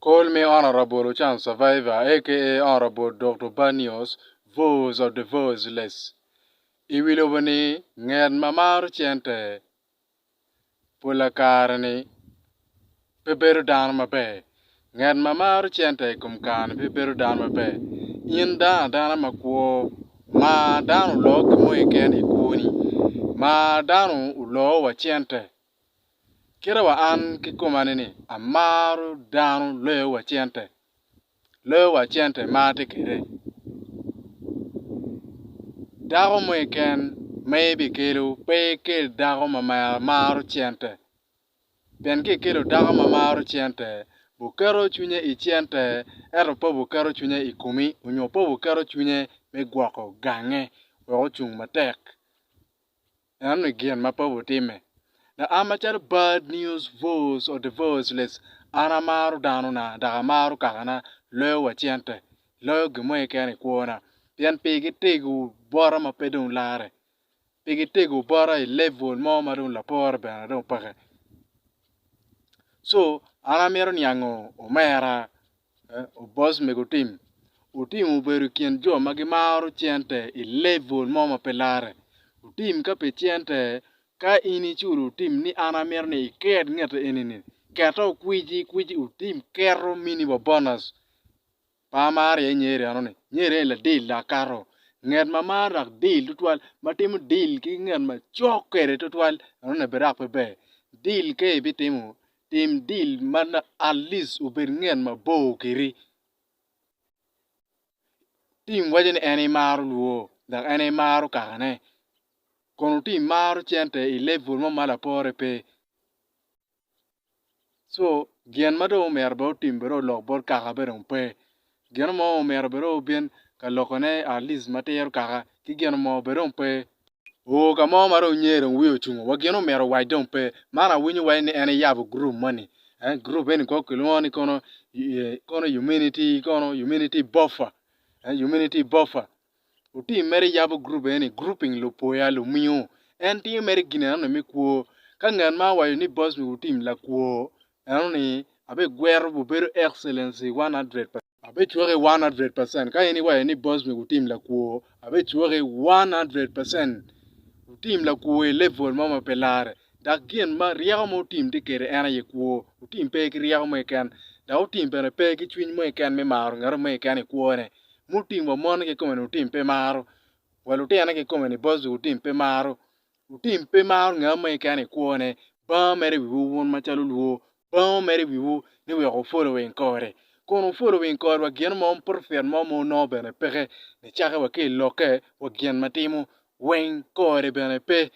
Col me Honourable Ochan Survivor aka Honourable Dokto Banios Voice of the Voiceless i wi lobo ni nget ma maro cente pola kare ni pe bedo dano maber nget ma maro cente i kom kare ni pe bedo dano maber in dano adana ma kwo mar dano oloo ki moi keken i kwoni mar dano oloo wa cente. Kite wa an kikoma ni amaro dano loyo wa cente, loyo wa cente ma atye kwede. Dako mo keken ma ibikelo pe ikel dako ma maro cente pien ka ikelo dako ma maro cente buketo cwinye i cente ento pe buketo cwinye i komi nyo pe buketo cwinye me gwoko gange wek ocung matek. Enoni gin ma Paulo timme, Dok an macalo bad news voice of the voiceless, an amaro danona, dok amaro kakana loyo wa cente, loyo gin mo keken i kwona, pien pi gitego bota ma pe dong larre, pi gitego bota i level mo ma dong lapore bene dong peke. Co, an amito niango omera Obos mego tim, Otim obedo i kin jo ma gimaro cente i level mo ma pe lare. Otim ka pe cente, ka in iculo Otim ni an amito ni iker ngete eni ni, kete okwici kwici Otim keto mini wa bonus. Pe amaro iye Nyeri enoni, Nyeri eni ladil dok kato. Nget ma maro dok dil tutwal ma timo dil ki nget macok kwede tutwal enoni bene dok pe ber. Dil ka ibitimo Tim deal ma at least obed nget mabor kedi. Tim iwaco ni en imaro lwo dok en imaro kakane. Kono tim imaro cente i level mo ma lapore pe. So gin ma dong omyero bed otim bed olok bot kaka bene dong pe. Gino mo omyero bed obin ka lokone at least ma tiro kaka ki gino mo bed dong pe. Oo ka mo ma dong nyer dong wiye ocungo wa gin omyero owac dong pe. Man awinyo waci ni en eyabo group moni eh group eni kong kilwongo ni kono kono Humanity kono Humanity Boffa eh Humanity Boffa Lutim mere yabo gurup eni ni Grouping Lupoya Lumiyo. En timo mere gin enoni me kwo. Ka ngat ma owaco ni boss me lutim lakwo enoni abegwero bubedo excellency 100%. Abecwake 100%. Ka in iwaco ni boss me lutim lakwo abecwake 100%. Lutim lakwo i level mo ma pe lare. Dok gin ma ryeko ma otim tye kede en aye kwo. Otim pe ki ryeko mo keken dok otim bene pe ki cwiny mo keken me maro ngato mo keken i kwone. Mutim wa mon kikome ni wutim pe maro, wa lutino kikome ni both du wutim pe maro. Wutim pe maro nga mo keken i kwo ne, banga mere i wiwu wun macalo olwor, banga omere i wiwu ni wek wu following kore. Kun wu following kore wa gin mo profit mo ma wunongo bene peke, nicakke wa ki i lokke wa gin ma timo weng kore bene pe.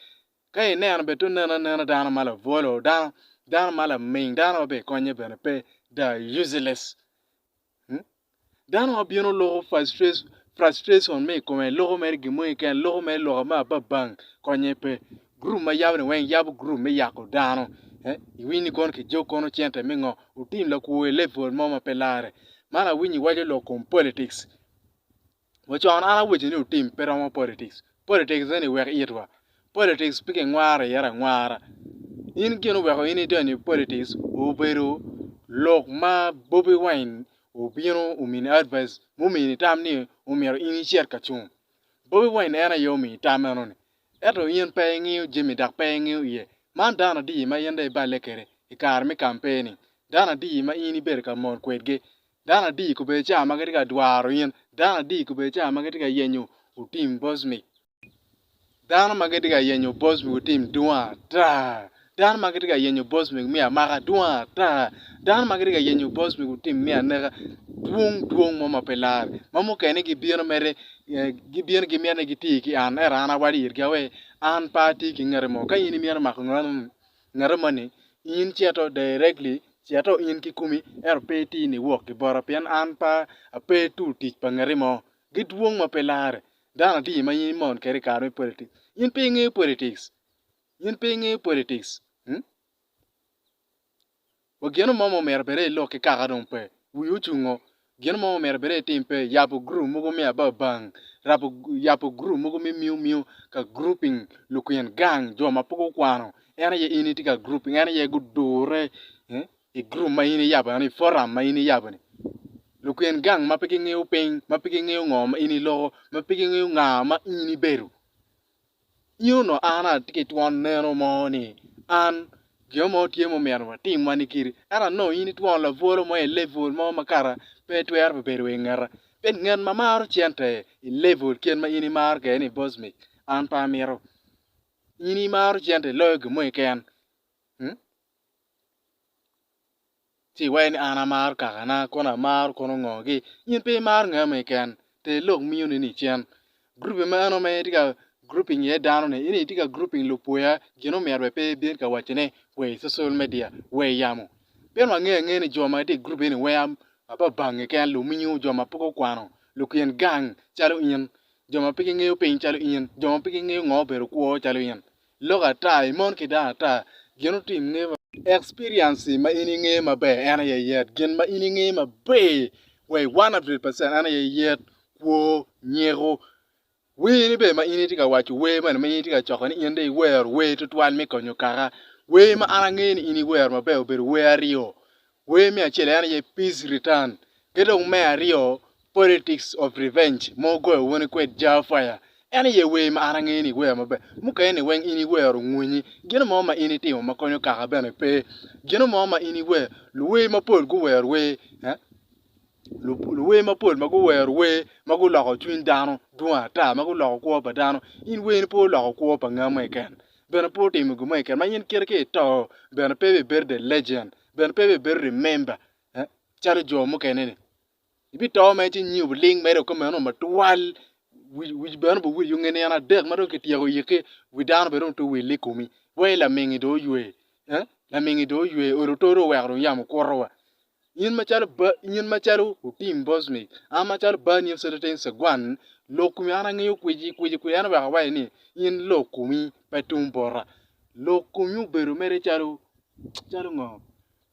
Ka i neno bene to neno anena dano ma labwolo, dano ma laming dano wa bene i konye bene pe, they are useless. Dano ma bino loko frustration me i kome, loko mere gin moni kene, loko mere lok me ababang konye pe. Gurup ma yabo ni weng yabo gurup me yako dano. Iwiny ni kono kijok kono cente me ngo otim lakwo i level mo ma pe lare. Man awinyo iwaco lok kom politics. Wa con an awaco ni wutim pe romo politics. Politics eni wek itwa. Politics pe kingwaro iye angwara. In gin oweko in idonyo i politics obedo lok ma Bobi Wine obino omini advice mumini tam ni omyero in icit ka cung. Bobi Wine en aye omini tam meno ni. Ento in pe ingiyo jami dok pe ingiyo iye. Man dano adi ma in dong iballe kwede i kare me campaign-ni? Dano adi ma in ibedo ka mol kwedgi? Dano adi i Kobedi Ca ma Gitye ka Dwaro In? Dano adi i Kobedi Ca ma Gitye ka Yenyo Otim Bosmik? Dano ma Gitye ka Yenyo Bosmik Otim Dwong Ata! Dano ma Gitye ka Yenyo Bosmik Miya Maka Dwong Ata! Dano ma Gitye ka Yenyo Bosmik Otim Miya Neka Dwong Dwong Mo ma Pe Lar! Ma mukene gibino mere gibino gimyero ni giti ki an, ento an awacci itgi awer, An pe atye ki ngati mo. Ka in imito mako nongo, Ngate moni, in cito directly, cito in kikumi ento pe itir ni wok ki bota pien an pe ape tool tic pa ngati mo. Gidwong ma pe lare. Dano adi ma in imon kede i kare me politics? In pe ingeyo politics. In pe ingeyo politics. Wa gino mo ma omyero bede ilok ki kaka dong pe wii ocungo, gino mo ma omyero bede itim pe yabo group mogo me ababang, rabo yabo group mogo me miu miu ka grouping lukin gang jo ma pe gukwano en aye in itye ka grouping en aye gudure i group ma in iyabo eno ni forum ma in iyabo ni lukin gang ma pe gingeyo piny ma pe gingeyo ngo ma in iloko ma pe gingeyo nga ma in ibedo Nino onongo an atye ki twon neno mo ni an gin mo tye ma omyero atim wani kiri ento anongo in itwon labwolo mo i level mo ma kara pe itwero bene bedo i ngeta pi ngat ma maro cente i level kit ma in imaro kwede ni boss mik an pe amito in imaro cente iloyo gin mo keken. Ci iwek ni an amar kakana, kono amaro kono ngogi. In pe imar ngami keken, ter lok miyoni ni cen. Groupi meno ma in itye ka grouping iye dano ni, in itye ka grouping lupwoya gin omyero bene pe ibin ka waco ne wa i social media, wa i yamo. Pien wangeyo angeya ni jo ma gitye i group eni wea ma pa bangi keken, luminyu, jo ma pe gukwano, lukin gang calo in, jo ma pe gingeyo piny calo in, jo ma pe gingeyo ngo obedo kwo calo in. Lok ata, I mon ki dano ata gin otim nge maber. Experience ma in inge maber en aye yet. Gin ma in inge maber wa i 100 percent en aye yet, kwo, nyeko. Wer ni bene ma in itye ka waco wer mene ma in itye ka coko ni in dong iwero wer tutwal me konyo kaka. Wer ma an ange ni in iwero maber obedo wer aryo. Wer me acel en aye Peace Return ki dong me aryo Politics of Revenge ma ogoyo wune kwed Jah Fire. En aye wer ma an angeyo ni iwero maber. Mukene-ni weng in iwero ongunyi. Gino mo ma in itimo ma konyo kaka bene pe. Gino mo ma in iwero, luwer mapol guwero wer eh, luwer mapol ma guwero wer ma guloko cwiny dano dwong ata, ma guloko kwo pa dano. In werni pe oloko kwo pa nga mo keken. Bene pe otimo gin mo keken ma in kite ka ito bene pe ibibedo the legend. bene pe ibibedo rimemba calo jo mukene-ni. Ibito mere ci inyiu biling mere dok kumeno ma twal wic bene biwil yung nino adek ma dong kityeko yikki wi dano bene dong pe owille i komi wa i lamingi dong oywe lamingi dong oywe olo oto dong oweko dong yamo kuto wa. In macalo ba in macalo Otim Bosnic an macalo bani in Celetain Saguan lok komi an angeyo kwici kwici kwici en oweko awaci ni in lok komi pe tum bota lok komi obedo mere calo calo ngo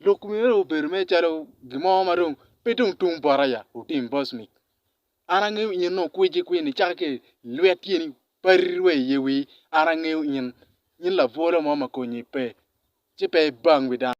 lok myero dong obed mere calo gin mo ma dong pe dong tum bot aya otim bos ni an angeyo in nongo kweci kwini caka ki ilwet tyeni pari wa i ye wii an angeyo in, in labwola mo ma konyi pe ci pe ibang wi dano.